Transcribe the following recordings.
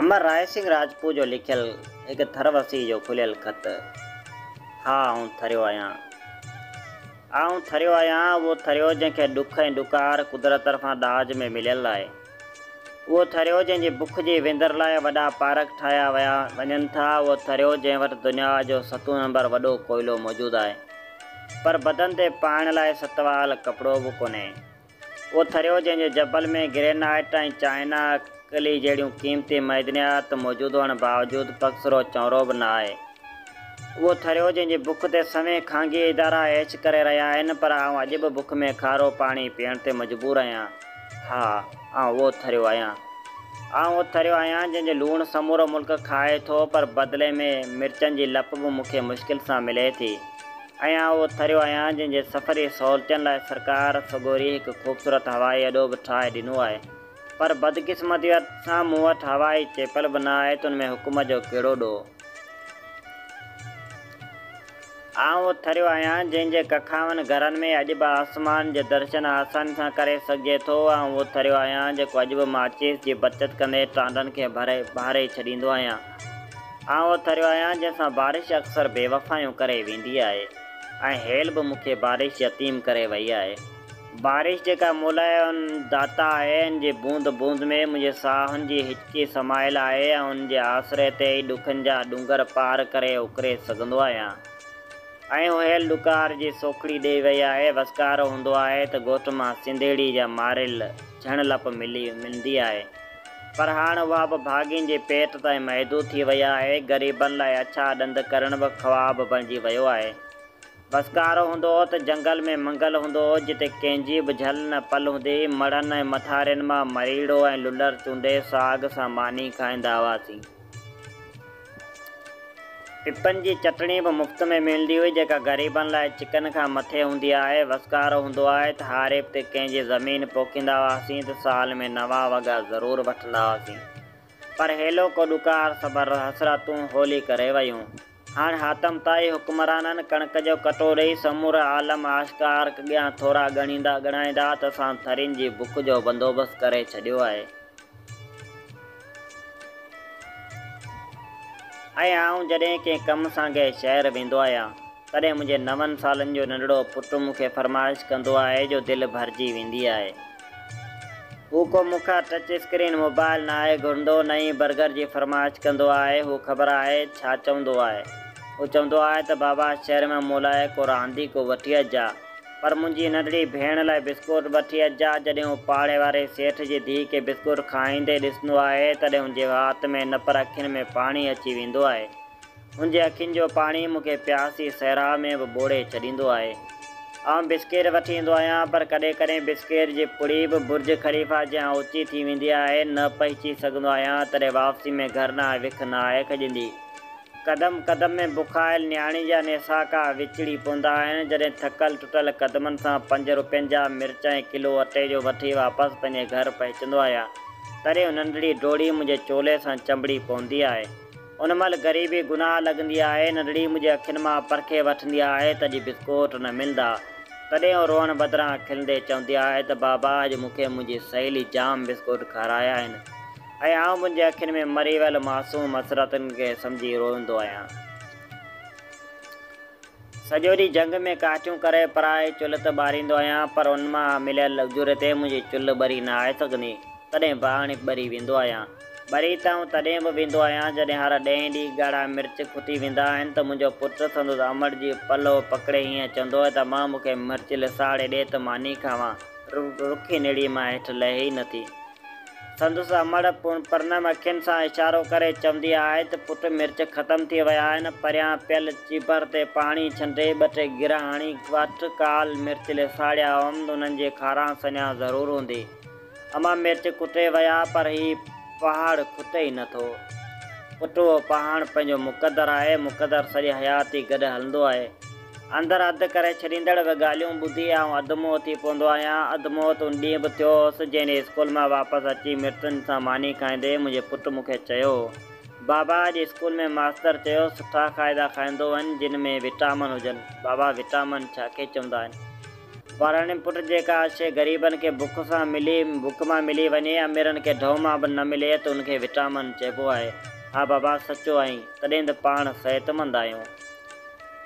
امر راء سنگهه راجپوت جو لکيل هڪ ٿر وسيء جو کليل خط. ها آئون ٿريو آهيان. آئون ٿريو آهيان، اهو ٿريو جنهن کي ڏک ۽ ڏڪار قدرت طرفان ڏاج ۾ مليل آهي. اهو ٿريو جنهن جي بک جي وندر لاء وڏا پارڪ ٺاهيا ويا وڃن ٿا، اهو ٿريو جنهن وٽ دنيا جو ستون نمبر وڏو ڪوئلو موجود آهي پر بدن تي پائڻ لاء ست وال ڪپڙو به ڪونهي، اهو ٿريو جنهن جي جبل ۾ گرينائيٽ ۽ چائنا ڪلي جهڙيون قيمتي معدنيات موجود هئڻ باوجود پگسرو چونرو به نه آهي، اهو ٿريو جنهن جي بک تي سوين خانگي ادارا عيش ڪري رهيا آهن پر آئون اڄ به بک ۾ کارو پاڻي پيئڻ تي مجبور آهيان. ها، آئون اهو ٿريو آهيان. آئون اهو ٿريو آهيان، جنهن جو لوڻ سمورو ملڪ کائي ٿو، پر بدلي ۾ مرچن جي لپ به مون کي مشڪل سان ملي ٿي. ۽ آئون اهو ٿريو آهيان، جنهن جي سفري سهولتين لاء سرڪار سڳوري هڪ خوبصورت هوائي اڏو به ٺاهي ڏنو آهي، پر بدقسمتيء سان مون وٽ هوائي چيپل به نه آهي ته ان ۾ حڪومت جو ڪهڙو ڏوهه؟ آئون اٿريو آهيان، جنهن جي ڪکاون گهرن ۾ اڄ به آسمان جو درشن آساني سان ڪري سگهجي ٿو. آئون اٿريو آهيان، جيڪو اڄ به ماچيس جي بچت ڪندي ٽانڊن کي ڀري ٻاري ڇڏيندو آهيان. آئون اٿريو آهيان، جنهن سان بارش اڪثر بيوفايون ڪري ويندي آهي ۽ هيل به مون کي بارش يتيم ڪري وئي آهي. بارش جيڪا مولائي ان داتا آهي ان جي بوند بوند ۾ منهنجي ساهن جي هچڪي سمايل آهي ۽ ان جي آسري تي ئي ڏکن جا ڏونگر پار ڪري اڪري سگهندو آهيان ۽ هوهيل ڏڪار جي سوکڙي ڏئي وئي آهي وسڪارو هوندو آهي ته ڳوٺ مان سنڌيڙي جا ماريل جھڻ لپ ملي ملندي آهي پر هاڻ اها به ڀاڳين جي پيٽ تائين محدود ٿي وئي آهي غريبن لاء اڇا ڏند ڪرڻ به خواب بڻجي ويو آهي ڀسڪارو هوندو هو ته جهنگل ۾ منگل هوندو هو، جتي ڪنهن جي به جهل نه پل هوندي هئي. مڙهن ۽ مٿارين مان مريڙو ۽ للر چونڊي ساڳ سان ماني کائيندا هئاسين. پپن جي چٽڻي به مفت ۾ ملندي هئي، جيڪا غريبن لاء چڪن کان مٿي هوندي آهي. ڀسڪارو هوندو آهي ته هاريب تي ڪنهن جي زمين پوکيندا هئاسين ته سال ۾ نوان وڳا ضرور وٺندا هئاسين. پر هيلو ڪو ڏڪار صبر حسرتون هولي ڪري ويون. هاڻ حاتم طائي حڪمرانن ڪڻڪ جو ڪٽو ڏئي سمورو عالم عاشقار اڳيان ٿورا ڳڻيندا ڳڻائيندا ته اسان ٿرين جي بک جو بندوبست ڪري ڇڏيو آهي ۽ آئون جڏهن ڪنهن ڪم سان ڪنهن شهر ويندو آهيان تڏهن منهنجي نون سالن جو ننڍڙو پٽ مون کي فرمائش ڪندو آهي جو دل ڀرجي ويندي آهي هو ڪو مکار ٽچ اسڪرين موبائل ناهي گهرندو، نه ئي برگر جي فرمائش ڪندو آهي. هو خبر آهي ڇا چوندو آهي؟ هو چوندو آهي ته بابا شهر ۾ مون لاء ڪو رانديڪو وٺي اچجاء، پر منهنجي ننڍڙي ڀيڻ لاء بسڪوٽ وٺي اچجاء. جڏهن هو پاڙي واري سيٺ جي ڌيء کي بسڪوٽ کائيندي ڏسندو آهي، تڏهن هن جي وات ۾ نه پر اکين ۾ پاڻي اچي ويندو آهي. هن جي اکين جو پاڻي مون کي پياسي صحرا ۾ به ٻوڙي ڇڏيندو آهي. آئون بسڪير وٺي ايندو آهيان، پر ڪڏهن ڪڏهن بسڪير جي پڙي به برج خليفا جيان اوچي ٿي ويندي آهي، نه پهچي سگهندو آهيان، تڏهن واپسي ۾ گهر نه آهي وک نه آهي کڄندي. قدم قدم ۾ بکايل نياڻي جا نيساڪا وچڙي پوندا آهن، جڏهن ٿڪل ٽٽل قدمن سان پنج روپين جا مرچ ۽ ڪلو اٽي جو وٺي واپس پنهنجي گهر پهچندو آهيان، تڏهن هو ننڍڙي ڊوڙي منهنجي چولي سان چنبڙي پوندي آهي. ان مهل غريبي گناهه لڳندي آهي، ننڍڙي منهنجي اکين مان پرکي وٺندي آهي ته اڄ بسڪوٽ نه ملندا. تڏهن هوء روئڻ بدران کلندي چوندي آهي ته بابا اڄ مون کي منهنجي سهيلي جام بسڪوٽ کارايا آهن ۽ آئون منهنجي اکين ۾ مري ويل معصوم حسرتن کي سمجهي روئندو آهيان. سڄو ڏينهن جهنگ ۾ ڪاٺيون ڪري پرائي چلهه ته ٻاريندو آهيان، پر ان مان مليل اجوري تي منهنجي چلهه ٻري نه آهي سگهندي. تڏهن به اڻيڪ ٻري ويندو آهيان. ٻري ته آئون تڏهن به ويندو آهيان، جڏهن هر ڏهين ڏينهن ڳاڙها مرچ کتي ويندا آهن ته منهنجو پٽ سندس امڙ جي پلو پڪڙي هيئن چوندو آهي ته مان مون کي مرچ لساڙي ڏي ته ماني کاوان. رکي نڙيء مان هيٺ لهي ئي نٿي. سندس امڙ پونئرنم اکين سان اشارو ڪري چوندي آهي ته پٽ مرچ ختم ٿي ويا آهن، پريان پيل چيڀر تي پاڻي ڇنڊي ٻه ٽي گرهه هڻي وٺ، ڪالهه مرچ لي ساڙيا هئم، انهن جي کاران سڃان ضرور هوندي. امان مرچ ڪٽي ويا پر هي پهاڙ کٽي ئي نه ٿو. پٽ اهو پهاڻ پنهنجو مقدر آهي، مقدر سڄي حياتي گڏ هلندو آهي. اندر اڌ ڪري ڇڏيندڙ به ڳالهيون ٻڌي آئون اڌ منهن ٿي پوندو آهيان. اڌ منهن ته ان ڏينهن به ٿيو هوس، جنهن ڏينهن اسڪول مان واپس اچي مڙسن سان ماني کائيندي منهنجي پٽ مون کي چيو، بابا اڄ اسڪول ۾ ماستر چيو سٺا کائدا کائيندو وڃ، جن ۾ وٽامن هجن. بابا وٽامن ڇا کي چوندا آهن؟ پراڻي پٽ جيڪا شيء غريبن کي بک سان ملي بک مان ملي وڃي، اميرن کي ڍؤ مان به نه ملي ته ان کي وٽامن چئبو آهي. ها بابا سچو آهين، تڏهن ته پاڻ صحتمند آهيون.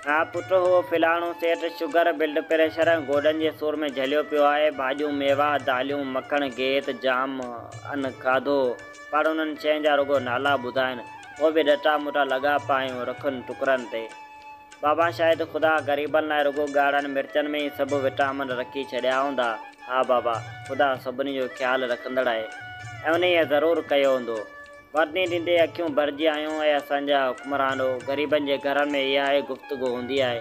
ها پٽ، هو فلاڻو سيٺ شگر، بلڊ پريشر ۽ گوڏن جي سور ۾ جهليو پيو آهي. ڀاڄيون، ميوا، داليون، مکڻ، گيت، جام ان کاڌو. پاڻ انهن شين جا رڳو نالا ٻڌائين. پوء به ڏٽا مٽا لڳا پايون رکن ٽڪرن تي. بابا شايد خدا غريبن لاء رڳو ڳاڙهن مرچن ۾ ئي سڀ وٽامن رکي ڇڏيا هوندا. ها بابا! خدا سڀني جو خيال رکندڙ آهي ۽ انهيء ضرور ڪيو هوندو. ورني ڏيندي اکيون ڀرجي آيون اي اسان جا حڪمرانو غريبن جي گهرن ۾ اها ئي گفتگو هوندي آهي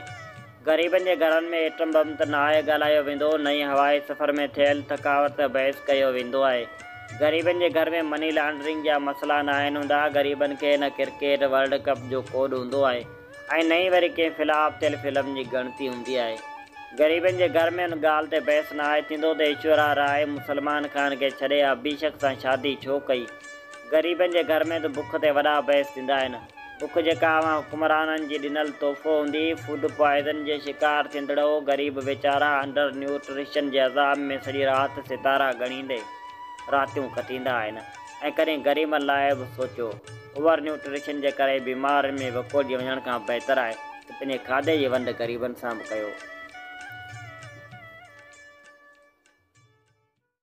غريبن جي گهرن ۾ ايٽم بم ته نه آهي ڳالهايو ويندو نه ئي هوائي سفر ۾ ٿيل ٿڪاوٽ تي بحث ڪيو ويندو آهي غريبن جي گهر ۾ مني لانڊرنگ جا مسئلا ناهن هوندا غريبن کي نه ڪرڪيٽ ورلڊ ڪپ جو ڪوڏ هوندو آهي ۽ نه ئي وري ڪنهن فلاپ ٿيل فلم جي ڳڻتي هوندي آهي. غريبن جي گهر ۾ ان ڳالهه تي بحث نه آهي ٿيندو ته ايشورا راء مسلمان خان کي ڇڏي ابهيشڪ سان شادي ڇو ڪئي. غريبن جي گهر ۾ ته بک تي وڏا بحث ٿيندا آهن. بک جيڪا اوهان حڪمرانن جي ڏنل تحفو هوندي، فوڊ پوائزن جي شڪار ٿيندڙ هو غريب ويچارا انڊر نيوٽريشن جي عذاب ۾ سڄي رات ستارا ڳڻيندي راتيون ڪٽيندا آهن ۽ ڪڏهن غريبن لاء به سوچو. اوور نيوٽريشن جي ڪري بيمارين ۾ وڪوڙجي وڃڻ کان بهتر آهي ته پنهنجي کاڌي جي ونڊ غريبن سان به ڪيو.